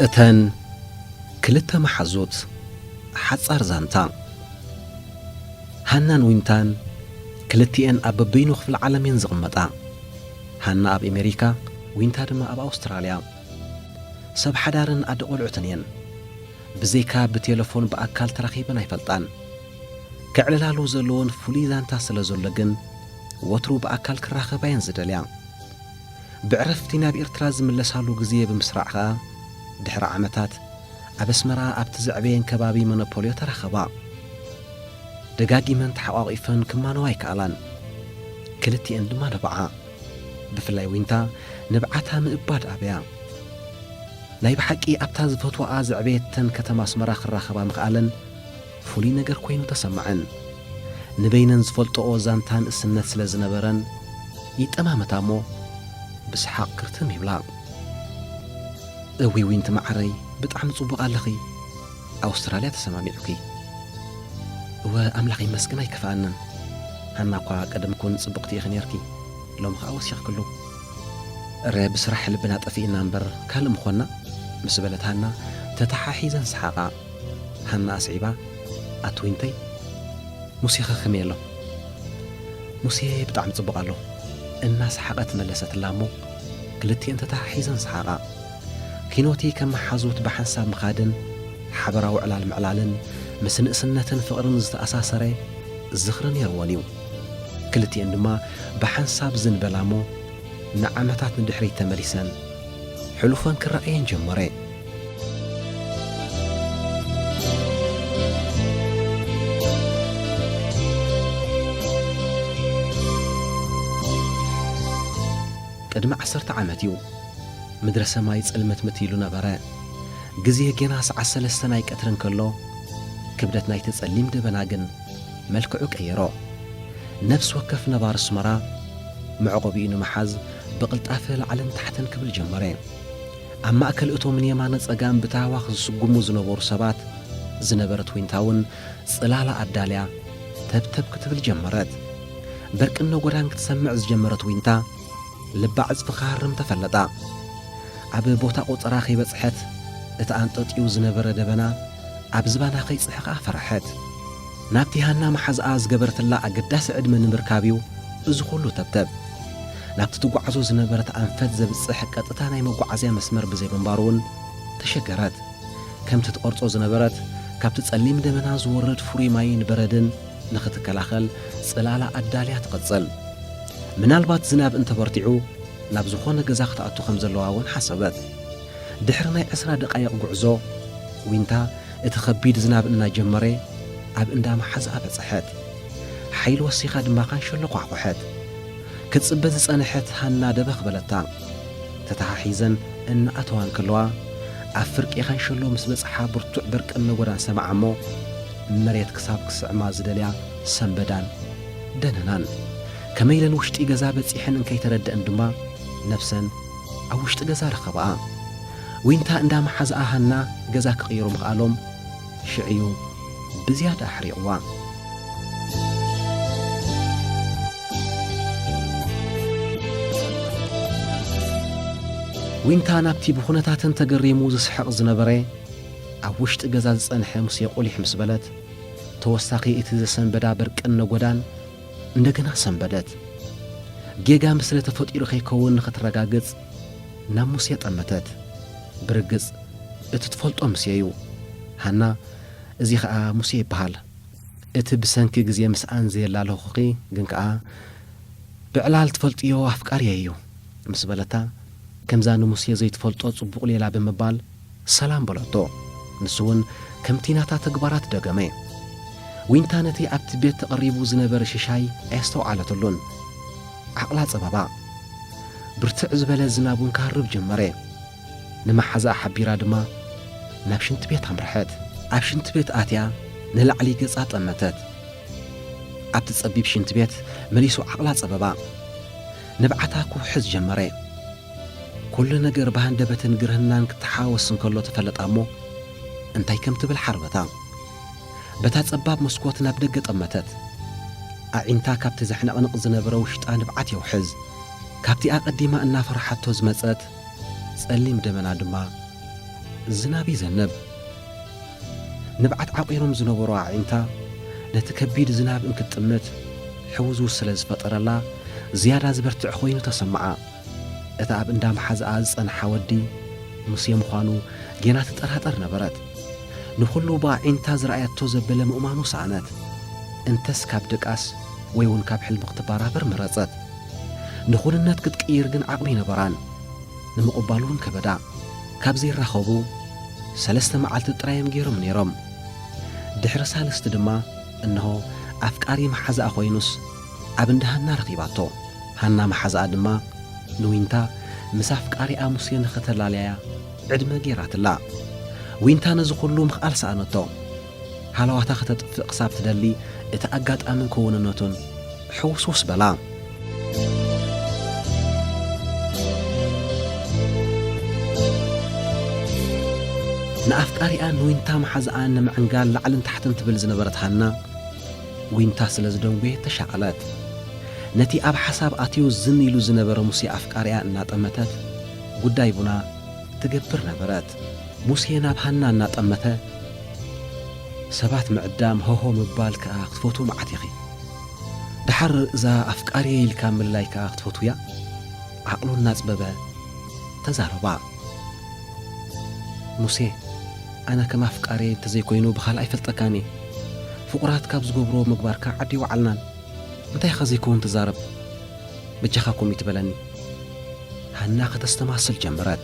እተን ክልተ መሓዙት ሓጻር ዛንታ ሃናን ዊንታን ክልቲኤን ኣብ በበይኑ ክፍለ ዓለም እየን ዝቕመጣ። ሃና ኣብ ኤሜሪካ ዊንታ ድማ ኣብ ኣውስትራልያ። ሰብ ሓዳርን ኣደ ቆልዑትን እየን። ብዘይካ ብቴለፎን ብኣካል ተራኺበን ኣይፈልጣን። ከዕልላሉ ዘለወን ፍሉይ ዛንታ ስለ ዘሎ ግን ወትሩ ብኣካል ክራኸባ እየን ዝደልያ። ብዕረፍቲ ናብ ኤርትራ ዝምለሳሉ ግዜ ብምስራዕ ከኣ ድሕሪ ዓመታት ኣብ ኣስመራ ኣብቲ ዘዕበየን ከባቢ መኖፖልዮ ተራኸባ። ደጋጊመን ተሓቛቒፈን ክማነዋ ኣይከኣላን። ክልቲኤን ድማ ነብዓ። ብፍላይ ዊንታ ንብዓታ ምእባድ ኣብያ። ናይ ብሓቂ ኣብታ ዝፈትዋኣ ዘዕበየተን ከተማ ኣስመራ ክራኸባ ምኽኣለን ፍሉይ ነገር ኮይኑ ተሰመዐን። ንበይነን ዝፈልጠኦ ዛንታ ንእስነት ስለ ዝነበረን ይጠማመታ እሞ ብሰሓቕ ክርትም ይብላ። እውይ ዊንቲ መዓረይ ብጣዕሚ ጽቡቕ ኣለኺ። ኣውስትራልያ ተሰማሚዑኪ እወ ኣምላኽ ይመስገን ኣይከፍኣናን ሃና እኳ ቀደም ኩን ጽብቕቲ ኢኺ ኔርኪ ሎሚ ኸኣ ወሲኽክሉ እረ ብስራሕ ልብና ጠፊእና እምበር ካልእ ምኾንና ምስ በለት ሃና ተተሓሒዘን ሰሓቓ ሃና ኣስዒባ ኣቲ ዊንተይ ሙሴኸ ከመይ ኣሎ ሙሴ ብጣዕሚ ጽቡቕ ኣሎ እናሰሓቐት መለሰትላ እሞ ክልቲኤን ተተሓሒዘን ሰሓቓ ኪኖቲ ከም መሓዙት ብሓንሳብ ምኻድን ሓበራዊ ዕላል ምዕላልን ምስ ንእስነትን ፍቕርን ዝተኣሳሰረ ዝኽሪ ነይርወን እዩ። ክልቲኤን ድማ ብሓንሳብ ዝንበላ'ሞ ንዓመታት ንድሕሪት ተመሊሰን ሕሉፈን ክረኣየን ጀመረ። ቅድሚ ዓሰርተ ዓመት እዩ ምድረ ሰማይ ጽልምትምት ኢሉ ነበረ። ግዜ ጌና ሰዓት ሰለስተ ናይ ቀትሪ እንከሎ፣ ክብደት ናይቲ ጸሊም ደበና ግን መልክዑ ቀየሮ። ነፍሲ ወከፍ ነባሪ ኣስመራ መዕቆቢኡ ንምሓዝ ብቕልጣፈ ላዕልን ታሕትን ክብል ጀመረ። ኣብ ማእከል እቶም ንየማነ ጸጋም ብታህዋኽ ዝስጉሙ ዝነበሩ ሰባት ዝነበረት ዊንታ'ውን ጽላላ ኣዳልያ ተብተብ ክትብል ጀመረት። በርቅን ነጎዳን ክትሰምዕ ዝጀመረት ዊንታ ልባ ዕጽፊ ክሃርም ተፈለጣ። ኣብ ቦታ ቆጸራ ከይበጽሐት እቲ ኣንጠጥዩ ዝነበረ ደበና ኣብ ዝባና ከይጽሕቃ ፈረሐት። ናብቲ ሃና መሓዝኣ ዝገበረትላ ኣገዳሲ ዕድመ ንምርካብ'ዩ እዚ ኩሉ ተብተብ። ናብቲ ትጓዓዞ ዝነበረት ኣንፈት ዘብጽሕ ቀጥታ ናይ መጓዓዝያ መስመር ብዘይምንባሩ'ውን ተሸገረት። ከምቲ ትቐርጾ ዝነበረት ካብቲ ጸሊም ደበና ዝወርድ ፍሩይ ማይን በረድን፣ ንኽትከላኸል ጽላላ ኣዳልያ ትቕጽል። ምናልባት ዝናብ እንተ በርቲዑ ናብ ዝዀነ ገዛ ክትኣቱ ከም ዘለዋ እውን ሓሰበት። ድሕሪ ናይ ዕስራ ደቓይቕ ጕዕዞ፣ ዊንታ እቲ ኸቢድ ዝናብ እናጀመረ ኣብ እንዳ መሓዝኣ በጽሐት። ሓይሊ ወሲኻ ድማ ካንሸሎ ኳሕኰሐት። ክትጽበ ዝጸንሐት ሃና ደበኽ በለታ። ተተሓሒዘን እናኣተዋ እንከለዋ፣ ኣብ ፍርቂ ካንሸሎ ምስ በጽሓ ብርቱዕ በርቅን ነጐዳን ሰምዓ እሞ፣ መሬት ክሳብ ክስዕማ ዝደልያ ሰብ በዳን ደነናን ከመይ ኢለን ውሽጢ ገዛ በጺሐን እንከይተረደእን ድማ ነብሰን ኣብ ውሽጢ ገዛ ረኸባኣ። ዊንታ እንዳ መሓዝኣ ሃና ገዛ ክቕይሩ ምኽኣሎም ሽዕ'ዩ ብዝያዳ ኣሕሪቕዋ። ዊንታ ናብቲ ብኹነታተን ተገሪሙ ዝስሕቕ ዝነበረ፣ ኣብ ውሽጢ ገዛ ዝጸንሐ ሙሴ ቁሊሕ ምስ በለት፣ ተወሳኺ እቲ ዘሰንበዳ በርቅን ነጎዳን እንደገና ሰንበደት። ጌጋ ምስለ ተፈጢሩ ከይከውን ንኽትረጋግጽ ናብ ሙሴ ጠመተት። ብርግጽ እቲ ትፈልጦ ሙሴ'ዩ። ሃና፣ እዚ ከኣ ሙሴ ይበሃል። እቲ ብሰንኪ ግዜ ምስኣን ዘየላለኹኺ ግን ከኣ ብዕላል ትፈልጥዮ ኣፍቃሪየይ'ዩ ምስ በለታ፣ ከምዛ ንሙሴ ዘይትፈልጦ ጽቡቕ ሌላ ብምባል፣ ሰላም በለቶ። ንሱውን ከምቲ ናታ ተግባራት ደገመ። ዊንታ ነቲ ኣብቲ ቤት ተቐሪቡ ዝነበረ ሽሻይ ኣየስተውዓለትሉን። ዓቕላ ጸበባ። ብርትዕ ዝበለ ዝናብውን ክሃርብ ጀመረ። ንመሓዛኣ ሓቢራ ድማ ናብ ሽንቲ ቤት ኣምርሐት። ኣብ ሽንቲ ቤት ኣትያ ንላዕሊ ገጻ ጠመተት። ኣብቲ ጸቢብ ሽንቲ ቤት መሊሱ ዓቕላ ጸበባ። ንብዓታ ክውሕዝ ጀመረ። ኩሉ ነገር ብሃንደበትን ግርህናን ክተሓዋወስ እንከሎ ተፈለጣ እሞ እንታይ ከም ትብል ሓርበታ። በታ ጸባብ መስኮት ናብ ደገ ጠመተት። ኣዒንታ ካብቲ ዘሕነቕንቕ ዝነበረ ውሽጣ ንብዓት የውሕዝ። ካብቲ ኣቐዲማ እናፈርሓቶ ዝመጸት ጸሊም ደበና ድማ ዝናብ ይዘንብ። ንብዓት ዓቚሮም ዝነበሩ ኣዒንታ ነቲ ከቢድ ዝናብ እንክትጥምት ሕውዝውዝ ስለ ዝፈጠረላ ዝያዳ ዝበርትዕ ኮይኑ ተሰምዓ። እቲ ኣብ እንዳ መሓዝኣ ዝጸንሓ ወዲ ሙሴ ምዃኑ ጌና ትጠራጠር ነበረት። ንኹሉ ብኣዒንታ ዝረኣየቶ ዘበለ ምእማኑ ሰኣነት። እንተስ ካብ ድቃስ ወይ'ውን ካብ ሕልሚ ክትበራበር መረጸት። ንኹንነት ክትቅይር ግን ዓቕሚ ኣይነበራን። ንምቕባል'ውን ከበዳ። ካብ ዘይራኸቡ ሰለስተ መዓልቲ ጥራይ'ዮም ጌሮም ነይሮም። ድሕሪ ሳልስቲ ድማ እንሆ ኣፍቃሪ መሓዝኣ ኮይኑስ፣ ኣብ እንዳ ሃና ረኺባቶ። ሃና መሓዛኣ ድማ ንዊንታ ምስ ኣፍቃሪኣ ሙሴ ንኽተላልያያ ዕድመ ገይራትላ። ዊንታ ነዚ ኹሉ ምኽኣል ሰኣነቶ። ሃለዋታ ከተጥፍእ ክሳብ ትደሊ እቲ ኣጋጣምን ክውንነቱን ሕውስውስ በላ። ንኣፍቃሪኣን ንዊንታ መሓዛኣን ንምዕንጋል ላዕልን ታሕትን ትብል ዝነበረት ሃና፣ ዊንታ ስለ ዝደንጉየ ተሻቐለት። ነቲ ኣብ ሓሳብ ኣትዩ ዝን ኢሉ ዝነበረ ሙሴ ኣፍቃሪኣ እናጠመተት ጉዳይ ቡና ትገብር ነበረት። ሙሴ ናብ ሃና እናጠመተ ሰባት ምዕዳም ሆሆ ምባል ከኣ ክትፈትዊ መዓት ኢኺ። ደሓር እዛ ኣፍቃሪየይ ኢልካ ምልላይ ከኣ ክትፈትውያ? ዓቕሉ እናጽበበ ተዛረባ። ሙሴ ኣነ ከም ኣፍቃርየይ እንተዘይኮይኑ ብኻልእ ኣይፈልጠካን እየ። ፍቑራት ካብ ዝገብርዎ ምግባርካ ዓዲ ኣይወዓልናን። እንታይ ኢኻ ዘይከውን ትዛረብ? በጃኻ ኮሚት በለኒ። ሃና ከተስተማስል ጀመረት።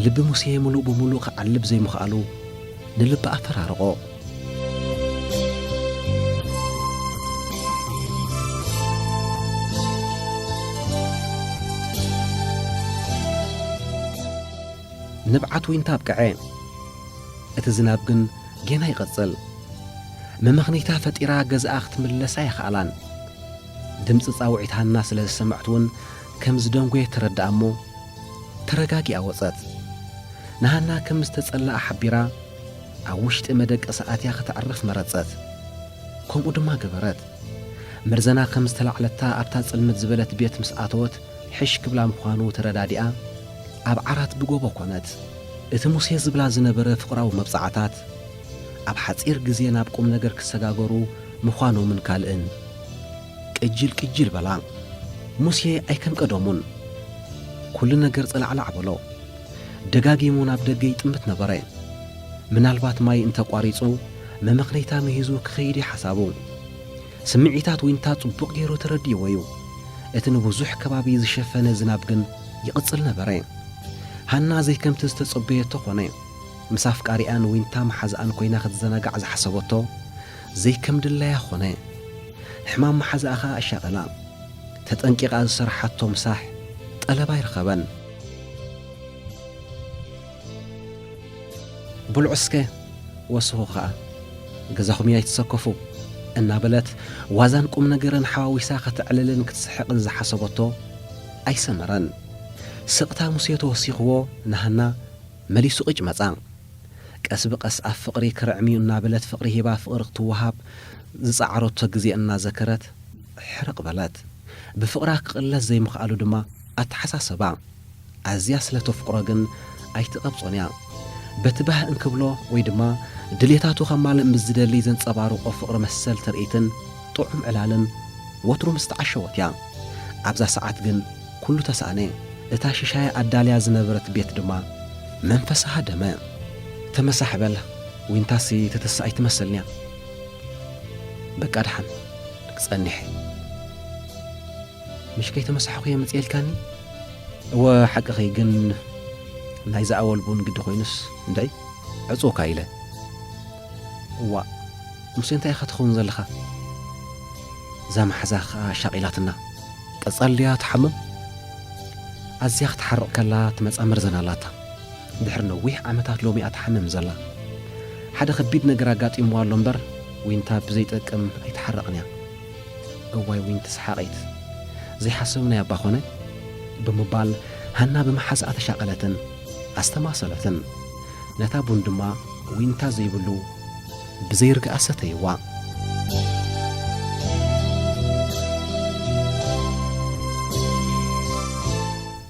ልቢ ሙሴ ምሉእ ብምሉእ ክዓልብ ዘይምኽኣሉ፣ ንልቢ ኣፈራርቖ። ንብዓት ዊንታ ኣብቀዐ፣ እቲ ዝናብ ግን ጌና ይቕጽል። መመኽነይታ ፈጢራ ገዝኣ ክትምለስ ኣይኸኣላን። ድምጺ ጻውዒት ሃና ስለ ዝሰምዐት'ውን፣ ከም ዝደንጐየ ተረድኣ እሞ፣ ተረጋጊኣ ወጸት። ንሃና ከም ዝተጸልኣ ሓቢራ፣ ኣብ ውሽጢ መደቀሲ ኣትያ ከተዕርፍ መረጸት። ከምኡ ድማ ገበረት። መርዘና ከም ዝተላዕለታ ኣብታ ጽልምት ዝበለት ቤት ምስ ኣተወት ሕሽ ክብላ ምዃኑ ተረዳዲኣ ኣብ ዓራት ብጐቦ ኰነት። እቲ ሙሴ ዝብላ ዝነበረ ፍቕራዊ መብጽዓታት፣ ኣብ ሓጺር ግዜ ናብ ቁምነገር ክሰጋገሩ ምዃኖምን ካልእን፣ ቅጂል ቅጂል በላ። ሙሴ ኣይከም ቀደሙን ኩሉ ነገር ጸላዕላዕ በሎ። ደጋጊሙ ናብ ደገ ይጥምት ነበረ። ምናልባት ማይ እንተ ኣቋሪጹ መመኽነይታ ምሂዙ ክኸይድ እዩ ሓሳቡ። ስምዒታት ዊንታ ጽቡቕ ገይሩ ተረዲእዎ እዩ። እቲ ንብዙሕ ከባቢ ዝሸፈነ ዝናብ ግን ይቕጽል ነበረ። ሃና ዘይከምቲ ዝተጸበየቶ ኮነ። ምስ ኣፍቃሪኣን ዊንታ መሓዝኣን ኮይና ክትዘናጋዕ ዝሓሰበቶ ዘይከም ድላያ ኾነ። ሕማም መሓዛኣ ከኣ ኣሻቐላ። ተጠንቂቓ ዝሰርሓቶ ምሳሕ ጠለብ ኣይረኸበን። ብልዑ እስከ ወስኹ ከኣ ገዛኹም እዩ ኣይትሰከፉ እናበለት ዋዛን ቁምነገርን ሓዋዊሳ ከተዕልልን ክትስሕቕን ዝሓሰበቶ ኣይሰመረን። ስቕታ ሙሴ ተወሲኽዎ ንሃና መሊሱ ቅጭ መጻ። ቀስ ብቀስ ኣብ ፍቕሪ ክርዕም'ዩ እናበለት ፍቕሪ ሂባ ፍቕሪ ክትወሃብ ዝጸዓረቶ ግዜ እናዘከረት ሕርቕ በለት። ብፍቕራ ክቕለስ ዘይምኽኣሉ ድማ ኣተሓሳሰባ። ኣዝያ ስለ ተፍቕሮ ግን ኣይትቐብጾን'ያ። በቲ ባህ እንክብሎ ወይ ድማ ድልየታቱ ከማልእ ምስ ዝደሊ ዘንጸባርቖ ፍቕሪ መሰል ትርኢትን ጥዑም ዕላልን ወትሩ ምስተዓሸወት'ያ። ኣብዛ ሰዓት ግን። ኩሉ ተሳእነ፣ እታ ሽሻይ ኣዳልያ ዝነበረት ቤት ድማ መንፈሳ ሃደመ። ተመሳሕ በል ዊንታሲ ትትስእ ኣይትመስልን'ያ። በቃ ደሓን ጸኒሐ። ምሽ ከይተመሳሕኹ'የ ምጽእ ኢልካኒ? እወ ሓቅኺ፣ ግን ናይ ዝኣወል ቡን ግዲ ኮይኑስ እንድዒ ዕጹውካ ኢለ። እዋእ ሙሴ እንታይ ኢኻ ትኸውን ዘለኻ? እዛ ማሓዛ ከኣ ሻቒላትና። ቀጻል'ያ ትሓምም። ኣዝያ ክትሓርቕ ከላ ትመጻ መርዘን ኣላታ። ድሕሪ ነዊሕ ዓመታት ሎሚ'ያ ትሓምም ዘላ። ሓደ ከቢድ ነገር ኣጋጢምዋ ኣሎ እምበር ዊንታ ብዘይጠቅም ኣይትሓርቕን'ያ። እዋይ ዊንቲ ሰሓቒት! ዘይሓሰብናዮ'ባ ኮነ! ብምባል ሃና ብመሓዛኣ ተሻቐለትን ኣስተማሰለትን። ነታ ቡን ድማ ዊንታ ዘይብሉ። ብዘይ ርግኣ ሰተይዋ።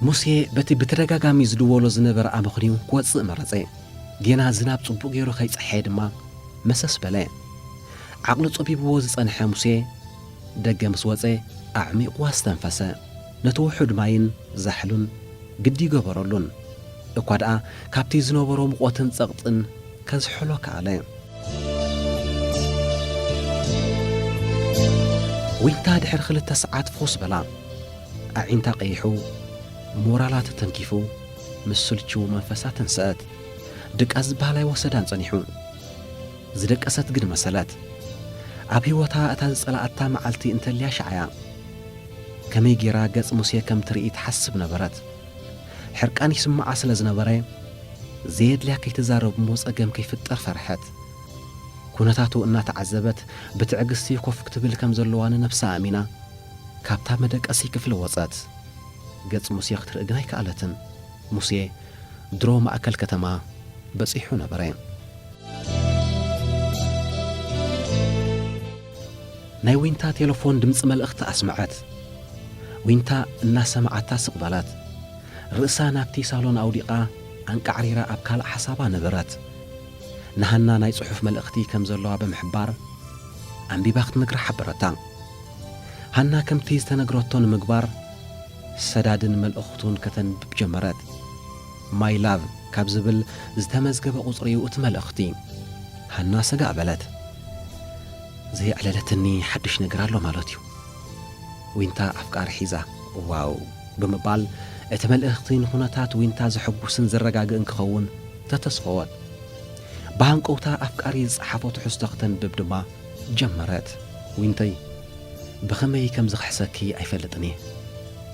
ሙሴ በቲ ብተደጋጋሚ ዝድወሎ ዝነበረ ኣመኽንዩ ክወጽእ መረጸ። ጌና ዝናብ ጽቡቕ ገይሩ ከይጸሐየ ድማ መሰስ በለ። ዓቕሉ ጸቢብዎ ዝጸንሐ ሙሴ ደገ ምስ ወጸ ኣዕሚቝ ኣስተንፈሰ። ነቲ ውሑድ ማይን ዛሕሉን ግዲ ገበረሉን፣ እኳ ደኣ ካብቲ ዝነበሮ ምቖትን ጸቕጥን ከዝሕሎ ከኣለ። ዊንታ ድሕሪ ክልተ ሰዓት ፍኹስ በላ። ኣዒንታ ቀይሑ፣ ሞራላ ተተንኪፉ፣ ምስ ስልችዉ መንፈሳ ተንሰአት። ድቃስ ዝበሃል ኣይወሰዳን ጸኒሑ። ዝደቀሰት ግን መሰለት። ኣብ ህይወታ እታ ዝጸላኣታ መዓልቲ እንተልያ ሽዓ'ያ። ከመይ ገይራ ገጽ ሙሴ ከም ትርኢ ትሓስብ ነበረት። ሕርቃን ይስምዓ ስለ ዝነበረ፣ ዘየድልያ ከይትዛረብ እሞ ጸገም ከይፍጠር ፈርሐት። ኵነታቱ እናተዓዘበት ብትዕግስቲ ኮፍ ክትብል ከም ዘለዋ ንነብሳ ኣእሚና፣ ካብታ መደቀሲ ክፍሊ ወጸት። ገጽ ሙሴ ክትርኢ ግን ኣይከኣለትን። ሙሴ ድሮ ማእከል ከተማ በጺሑ ነበረ። ናይ ዊንታ ቴለፎን ድምጺ መልእኽቲ ኣስመዐት። ዊንታ እናሰመዓታ ስቕ በለት። ርእሳ ናብቲ ሳሎን ኣውዲቓ ኣንቃዕሪራ ኣብ ካልእ ሓሳባ ነበረት። ንሃና ናይ ጽሑፍ መልእኽቲ ከም ዘለዋ ብምሕባር ኣንቢባ ክትነግራ ሓበረታ። ሃና ከምቲ ዝተነግረቶ ንምግባር ሰዳድን መልእኽቱን ከተንብብ ጀመረት። My love ካብ ዝብል ዝተመዝገበ ቁጽሪ'ዩ እቲ መልእኽቲ። ሃና ሰጋእ በለት። ዘየዕለለትኒ ሓድሽ ነገር ኣሎ ማለት'ዩ። ዊንታ ኣፍቃሪ ሒዛ። ዋው! ብምባል እቲ መልእኽቲ ንኹነታት ዊንታ ዘሐጉስን ዘረጋግእን ክኸውን ተተስፈወት። ብሃንቀውታ ኣፍቃሪ ዝጸሓፎ ትሕዝቶ ክተንብብ ድማ ጀመረት፣ ዊንተይ ብኸመይ ከም ዝኽሕሰኪ ኣይፈልጥን እየ፣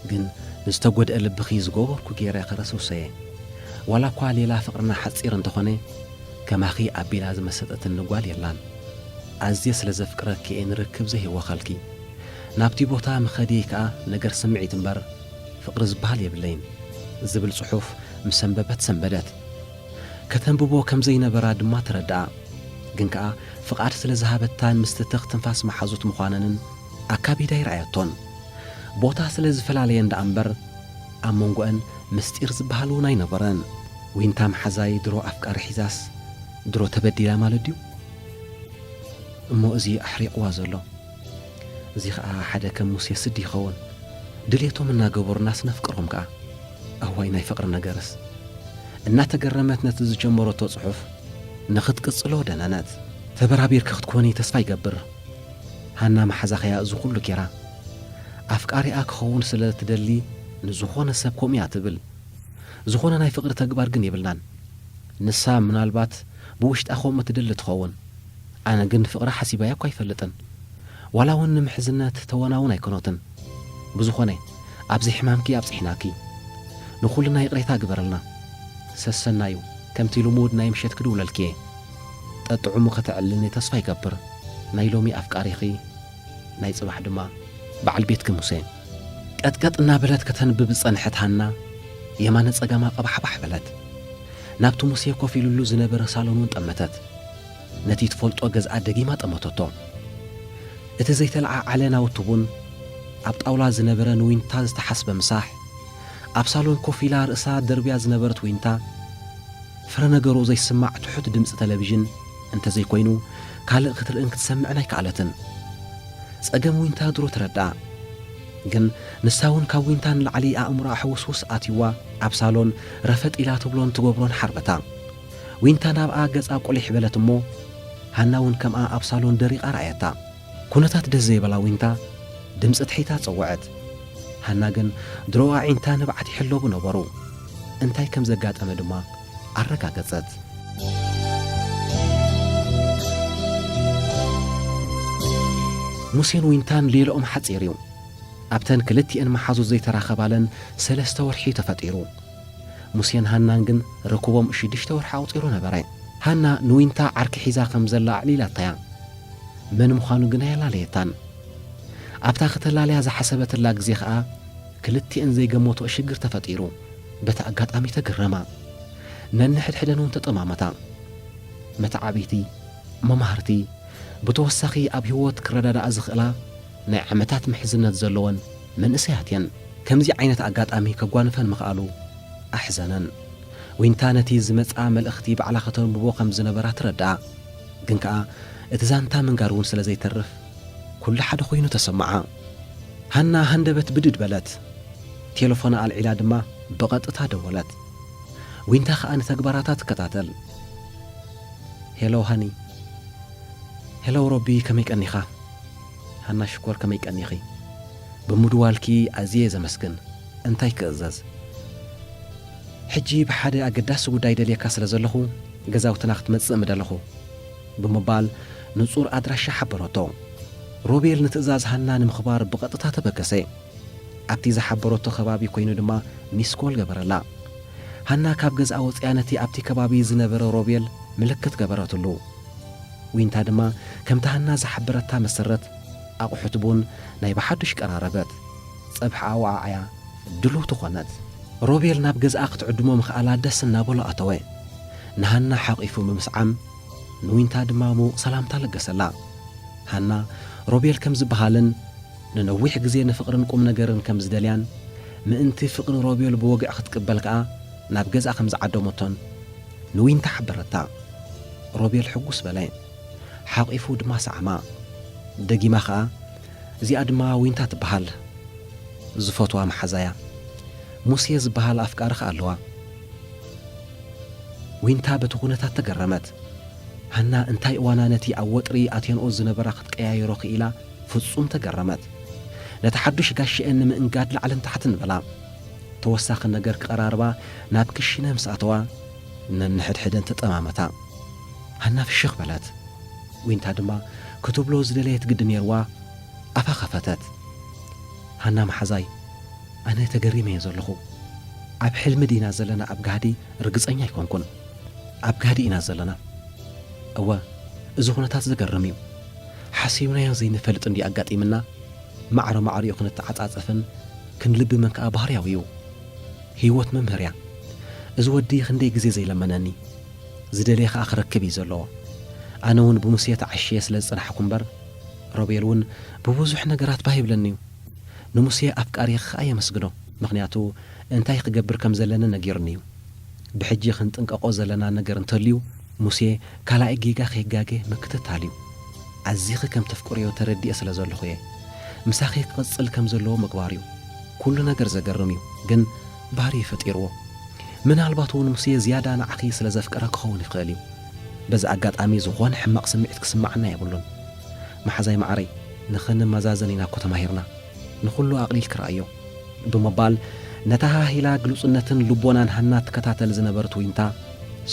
ግን ንዝተጎድኣ ልብኺ ዝገበርኩ ገይረ ከረስርሶ'የ፣ ዋላኳ ሌላ ፍቕርና ሓጺር እንተኾነ ከማኺ ኣቢላ ዝመሰጠትኒ ጓል የላን፣ ኣዝየ ስለ ዘፍቅረኪ'የ ንርክብ ዘይህወኸልኪ፣ ናብቲ ቦታ ምኸድየይ ከኣ ነገር ስምዒት እምበር ፍቕሪ ዝበሃል የብለይን ዝብል ጽሑፍ ምስ ኣንበበት ሰንበደት። ከተንብቦ ከም ዘይነበራ ድማ ተረድኣ። ግን ከኣ ፍቓድ ስለ ዝሃበታን ምስቲ ትኽ ትንፋስ መሓዙት ምዃነንን ኣካቢዳ ኣይርኣየቶን። ቦታ ስለ ዝፈላለየን ደኣ እምበር ኣብ መንጎኣን ምስጢር ዝበሃል እውን ኣይነበረን። ዊንታ መሓዛይ ድሮ ኣፍቃሪ ሒዛስ ድሮ ተበዲላ ማለት ድዩ? እሞ እዚ ኣሕሪቕዋ ዘሎ። እዚ ከኣ ሓደ ከም ሙሴ ስዲ ይኸውን ድልየቶም እናገበሩ እናስ ነፍቅሮም ከኣ ኣዋይ ናይ ፍቅሪ ነገርስ እናተገረመት ነቲ ዝጀመረቶ ጽሑፍ ንኽትቅጽሎ ደነነት። ተበራቢርኪ ክትኮኒ ተስፋ ይገብር ሃና መሓዛኺ እያ እዚ ኩሉ ጌራ ኣፍቃሪኣ ክኸውን ስለ ትደሊ ንዝኾነ ሰብ ከምኡ እያ ትብል ዝኾነ ናይ ፍቅሪ ተግባር ግን የብላን ንሳ ምናልባት ብውሽጣ ከምኡ ትደሊ ትኸውን ኣነ ግን ፍቅሪ ሓሲባያ እኳ ኣይፈልጥን ዋላ ውን ንምሕዝነት ተወና ውን ኣይኮኖትን ብዝኾነ ኣብዚ ሕማምኪ ኣብጽሕናኪ ንኹልና ይቅሬታ ግበርልና ሰሰናዩ ከምቲ ልሙድ ናይ ምሸት ክድውለልኪ እየ ጠጥዑሙ ከተዕልልኒ ተስፋ ይገብር ናይ ሎሚ ኣፍቃሪኺ ናይ ጽባሕ ድማ በዓል ቤትኪ ሙሴ። ቀጥቀጥ እናበለት ከተንብብ ዝጸንሐት ሃና የማነ ጸጋማ ቀባሕባሕ በለት ናብቲ ሙሴ ኮፍ ኢሉሉ ዝነበረ ሳሎን ውን ጠመተት። ነቲ ትፈልጦ ገዝኣ ደጊማ ጠመተቶ። እቲ ዘይተለዓዓለ ናውቲ ቡን፣ ኣብ ጣውላ ዝነበረ ንዊንታ ዝተሓስበ ምሳሕ፣ ኣብ ሳሎን ኮፍ ኢላ ርእሳ ደርብያ ዝነበረት ዊንታ፣ ፍረ ነገሩ ዘይስማዕ ትሑት ድምጺ ተለቪዥን እንተ ዘይኮይኑ ካልእ ክትርእን ክትሰምዕን ኣይከኣለትን። ጸገም ዊንታ ድሮ ተረድኣ። ግን ንሳ'ውን ካብ ዊንታ ንላዕሊ ኣእምሮኣ ሕውስውስ ኣትዩዋ ኣብ ሳሎን ረፈጥ ኢላ ትብሎን ትገብሮን ሓርበታ። ዊንታ ናብኣ ገጻ ቁሊሕ በለት እሞ ሃና ውን ከምኣ ኣብ ሳሎን ደሪቓ ረኣያታ። ኩነታት ደስ ዘይበላ ዊንታ ድምጺ ትሒታ ጸወዐት። ሃና ግን ድሮ ኣዒንታ ንብዓት ይሕለቡ ነበሩ። እንታይ ከም ዘጋጠመ ድማ ኣረጋገጸት። ሙሴን ዊንታን ሌልኦም ሓጺር እዩ። ኣብተን ክልቲኤን መሓዙት ዘይተራኸባለን ሰለስተ ወርሒ'ዩ ተፈጢሩ። ሙሴን ሃናን ግን ርክቦም ሽዱሽተ ወርሒ ኣቝጺሩ ነበረ። ሃና ንዊንታ ዓርኪ ሒዛ ኸም ዘላ ኣዕሊላታ እያ፣ መን ምዃኑ ግን ኣየላለየታን። ኣብታ ኽተላልያ ዝሓሰበትላ ግዜ ኸኣ፣ ክልቲኤን ዘይገመትኦ ሽግር ተፈጢሩ። በቲ ኣጋጣሚ ተገረማ፣ ነንሕድሕደን እውን ተጠማመታ። መተዓብይቲ፣ መማህርቲ፣ ብተወሳኺ ኣብ ህይወት ክረዳድኣ ዝኽእላ፣ ናይ ዓመታት ምሕዝነት ዘለወን መንእሰያት እየን። ከምዚ ዓይነት ኣጋጣሚ ከጓንፈን ምኽኣሉ ኣሕዘነን። ዊንታ ነቲ ዝመጽኣ መልእኽቲ ባዕላ ከተንብቦ ከም ዝነበራ ትረድኣ። ግን ከኣ እቲ ዛንታ ምንጋር እውን ስለ ዘይተርፍ ኩሉ ሓደ ኮይኑ ተሰምዓ። ሃና ሃንደበት ብድድ በለት። ቴለፎና ኣልዒላ ድማ ብቐጥታ ደወለት። ዊንታ ከኣ ንተግባራታ ትከታተል። ሄሎ ሃኒ። ሄሎ ሮቢ ከመይ ቀኒኻ? ሃና ሽኮር ከመይ ቀኒኺ ብምድዋልኪ ኣዝየ ዘመስግን እንታይ ክእዘዝ ሕጂ ብሓደ ኣገዳሲ ጉዳይ ደልየካ ስለ ዘለኹ ገዛውትና ክትመጽእ ምደለኹ ብምባል ንጹር ኣድራሻ ሓበረቶ ሮቤል ንትእዛዝ ሃና ንምኽባር ብቐጥታ ተበገሰ ኣብቲ ዝሓበረቶ ከባቢ ኮይኑ ድማ ሚስኮል ገበረላ ሃና ካብ ገዝኣ ወጽያ ነቲ ኣብቲ ከባቢ ዝነበረ ሮቤል ምልክት ገበረትሉ ዊንታ ድማ ከምቲ ሃና ዝሓበረታ መሰረት ኣቑሑት ቡን ናይ ብሓዱሽ ቀራረበት። ጸብሒ ኣወዓዕያ ድልውቲ ኮነት። ሮቤል ናብ ገዝኣ ክትዕድሞ ምኽኣላ ደስ እናበሎ ኣተወ። ንሃና ሓቚፉ ብምስዓም ንዊንታ ድማ ምዉቕ ሰላምታ ለገሰላ። ሃና ሮቤል ከም ዝበሃልን ንነዊሕ ግዜ ንፍቕርን ቁምነገርን ከም ዝደልያን ምእንቲ ፍቕሪ ሮቤል ብወግዒ ክትቅበል ከኣ ናብ ገዝኣ ከም ዝዓደመቶን፣ ንዊንታ ሓበረታ። ሮቤል ሕጉስ በለ። ሓቚፉ ድማ ሰዓማ። ደጊማ ከኣ፣ እዚኣ ድማ ዊንታ ትበሃል። ዝፈትዋ መሓዛ'ያ። ሙሴ ዝበሃል ኣፍቃሪ ከኣ ኣለዋ። ዊንታ በቲ ኵነታት ተገረመት። ሃና እንታይ እዋና ነቲ ኣብ ወጥሪ ኣትየንኦ ዝነበራ ክትቀያይሮ ክኢላ ፍጹም ተገረመት። ነቲ ሓዱሽ ጋሻኤን ንምእንጋድ ላዕልን ታሕትን በላ። ተወሳኺ ነገር ክቐራርባ ናብ ክሽነ ምስ ኣተዋ፣ ነንሕድሕደን ተጠማመታ። ሃና ፍሽኽ በለት። ዊንታ ድማ ክትብሎ ዝደለየት ግዲ ነይሩዋ ኣፋ ከፈተት። ሃና መሓዛይ፣ ኣነ ተገሪመ'የ ዘለኹ። ኣብ ሕልሚ ዲና ዘለና ኣብ ጋህዲ ርግጸኛ ኣይኮንኩን። ኣብ ጋህዲ ኢና ዘለና። እወ እዚ ኩነታት ዘገርም'ዩ። ሓሲብናዮ ዘይንፈልጥ እንድዩ ኣጋጢምና። ማዕረ ማዕሪኡ ክንተዓጻጸፍን ክንልብምን ከኣ ባህርያዊ እዩ። ህይወት መምህር እያ። እዚ ወዲ ክንደይ ግዜ ዘይለመነኒ። ዝደልየ ከኣ ክረክብ እዩ ዘለዎ። ኣነ ውን ብሙሴ ተዓሽየ ስለ ዝጸናሕኩ እምበር፣ ሮቤል ውን ብብዙሕ ነገራት ባህ ይብለኒ እዩ። ንሙሴ ኣፍቃሪኺ ከኣ የመስግኖ፣ ምኽንያቱ እንታይ ክገብር ከም ዘለኒ ነጊሩኒ እዩ። ብሕጂ ክንጥንቀቆ ዘለና ነገር እንተልዩ፣ ሙሴ ካላኣይ ጌጋ ከይጋገ ምክትታል እዩ ኣዚኺ ከም ተፍቅርዮ ተረዲኤ ስለ ዘለኹ እየ ምሳኺ ክቅጽል ከም ዘለዎ ምግባር እዩ ኩሉ ነገር ዘገርም እዩ ግን ባህሪ ፈጢርዎ ምናልባት ውን ሙሴ ዝያዳ ንዓኺ ስለ ዘፍቅራ ክኸውን ይኽእል እዩ በዚ ኣጋጣሚ ዝኾነ ሕማቅ ስምዒት ክስማዓና የብሉን ማሓዛይ ማዓረይ ንኽንመዛዘን ኢና እኮ ተማሂርና ንኹሉ ኣቅሊልኪ ረኣዮ። ብምባል ነታ ሃሂላ ግሉጽነትን ልቦናን ሃና ትከታተል ዝነበርት ዊንታ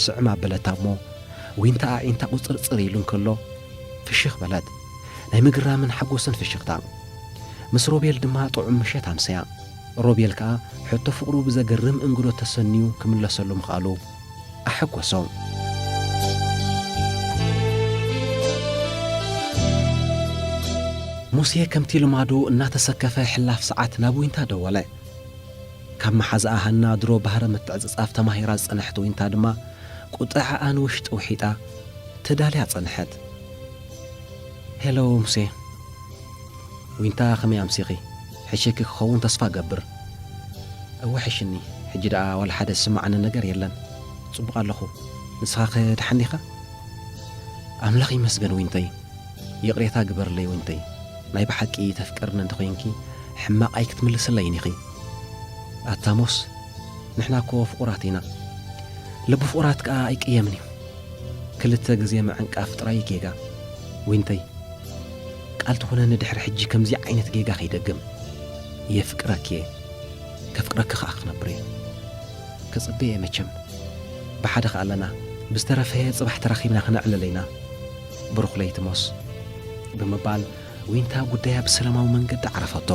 ስዕም ኣበለታ እሞ ዊንታ ኣዒንታ ቁጽርጽር ኢሉ እንከሎ ፍሽኽ በለት ናይ ምግራምን ሓጎስን ፍሽኽታ ምስ ሮቤል ድማ ጥዑም ምሸት ኣምሰያ ሮቤል ከኣ ሕቶ ፍቕሩ ብዘገርም እንግዶት ተሰንዩ ክምለሰሉ ምኽኣሉ ኣሐጎሶም። ሙሴ ከምቲ ልማዱ እናተሰከፈ ሕላፍ ሰዓት ናብ ዊንታ ደወለ። ካብ መሓዝኣ ሃና ድሮ ባህረ ምትዕጽጻፍ ተማሂራ ዝጸንሐት ዊንታ ድማ ቁጠዐኣ ንውሽጢ ውሒጣ ተዳልያ ጸንሐት። ሄሎ ሙሴ። ዊንታ ከመይ ኣምሲኺ? ሕሽኪ ክኸውን ተስፋ እገብር። እወ ሕሽኒ ሕጂ ደኣ ዋላ ሓደ ዝስመዓኒ ነገር የለን ጽቡቕ ኣለኹ ንስኻኸ ደሓን ዲኻ? ኣምላኽ ይመስገን ዊንተይ ይቕሬታ ግበርለይ ዊንተይ ናይ ብሓቂ ተፍቅርኒ እንተ ዄንኪ ሕማቕ ኣይክትምልስለይን ኢኺ ኣታ ሞስ ንሕና እኮ ፍቑራት ኢና ልቢ ፍቑራት ከኣ ኣይቅየምን እዩ ክልተ ግዜ ምዕንቃፍ ጥራይ እዩ ጌጋ ዊንተይ ቃል ትኹነኒ ድሕሪ ሕጂ ከምዚ ዓይነት ጌጋ ከይደግም። የፍቅረኪ እየ ከፍቅረኪ ከኣ ክነብር እየ ክጽበ እየ መቸም ብሓደ ከኣ ኣለና ብዝተረፈ ጽባሕ ተራኺብና ክነዕልል ኢና ብሩኽ ለይቲ ሞስ ብምባል ዊንታ ጉዳያ ብሰለማዊ መንገዲ ዓረፈቶ።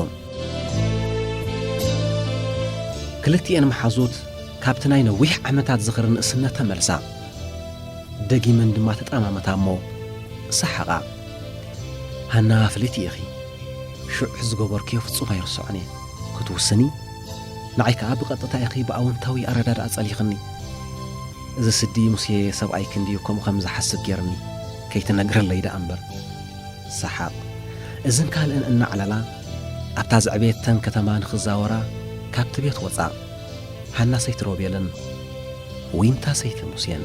ክልቲኤን መሓዙት ካብቲ ናይ ነዊሕ ዓመታት ዝኽሪ ንእስነት ተመልሳ። ደጊመን ድማ ተጠማመታ እሞ ሰሓቓ። ሃና ፍልይቲ ኢኺ፣ ሽዑ ዝገበርክዮ ፍጹም ኣይርስዖን እየ። ክትውስኒ፣ ንዓይ ከኣ ብቐጥታ ኢኺ ብኣወንታዊ ኣረዳድኣ ጸሊኽኒ። እዚ ስዲ ሙሴ ሰብኣይኪ እንድዩ ከምኡ ከም ዝሓስብ ጌርኒ፣ ከይትነግርለይ ደኣ እምበር። ሰሓቕ። እዝን ካልእን እናዕለላ፣ ኣብታ ዘዕበየተን ከተማ ንኽዛወራ ካብቲ ቤት ወጻ። ሃና ሰይቲ ሮቤልን ዊንታ ሰይቲ ሙሴን።